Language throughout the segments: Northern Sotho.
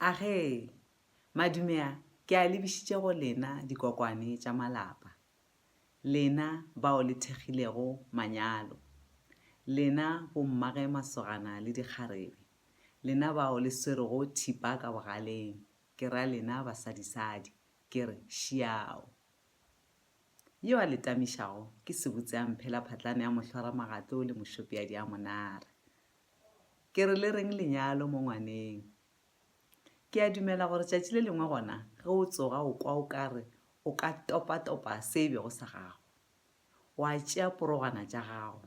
Age, Madumea, ke a lebišitše go lena dikokwane tša malapa, lena bao le thekgilego manyalo, lena bommage masogana le dikgarebe, lena bao le swerego thipa ka bogaleng, ke ra lena basadisadi, ke re, Šiao! Yo a le tamišago ke sebutseamphe la phatlane ya mohlwaramagatlo le mošopeadi a monare. Ke re le reng lenyalo mo ngwaneng? Ke a dumela gore tšatši le lengwe gona ge o tsoga o kwa o kare o ka topa-topa se e bego sa gago. Wa tšea porogwana tša gago,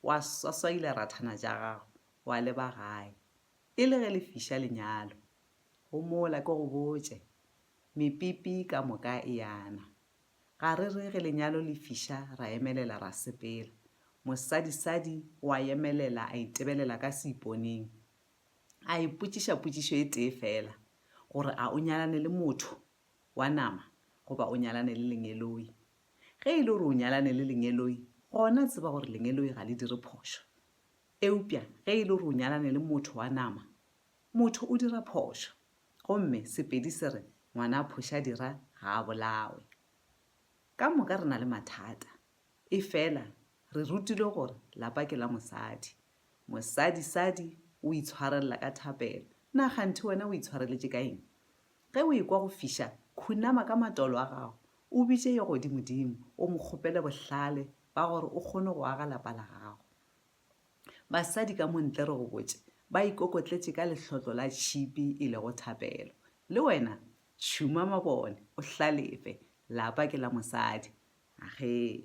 wa swaswaila rathana tša gago, wa leba gae. E le ge le fiša lenyalo, go mola ke go botše, mepipi ka moka e yana. Ga re re ge lenyalo le fiša ra emelela ra sepela. Mosadisadi o a emelela a itebelela ka seiponeng. A ipotšiša potšišo e tee feela, gore a o nyalane le motho wa nama goba o nyalane le lengeloi. Ge e le gore o nyalane le lengeloi, gona tseba gore lengeloi ga le dire phošo. Eupša ge e le gore o nyalane le motho wa nama, motho o dira phošo. Gomme Sepedi se re ngwana a phoša dira ga a bolawe. Ka moka re na le mathata. Efela re rutilwe gore lapa ke la mosadi. Mosadi sadi o itshwarelela ka thapelo. Na kganthe wena o itshwareletše ka eng? Ge o ekwa go fiša, khunama ka matolo a gago, o bitše Yo Godimodimo, o Mo kgopele bohlale ba gore o kgone go aga lapa la gago. Basadi ka mo ntle, re go botše, ba ikokotletše ka lehlotlo la tšhipi e lego thapelo. Le wena, tšhuma mabone, o hlalefe. Lapa ke la mosadi. Ahee.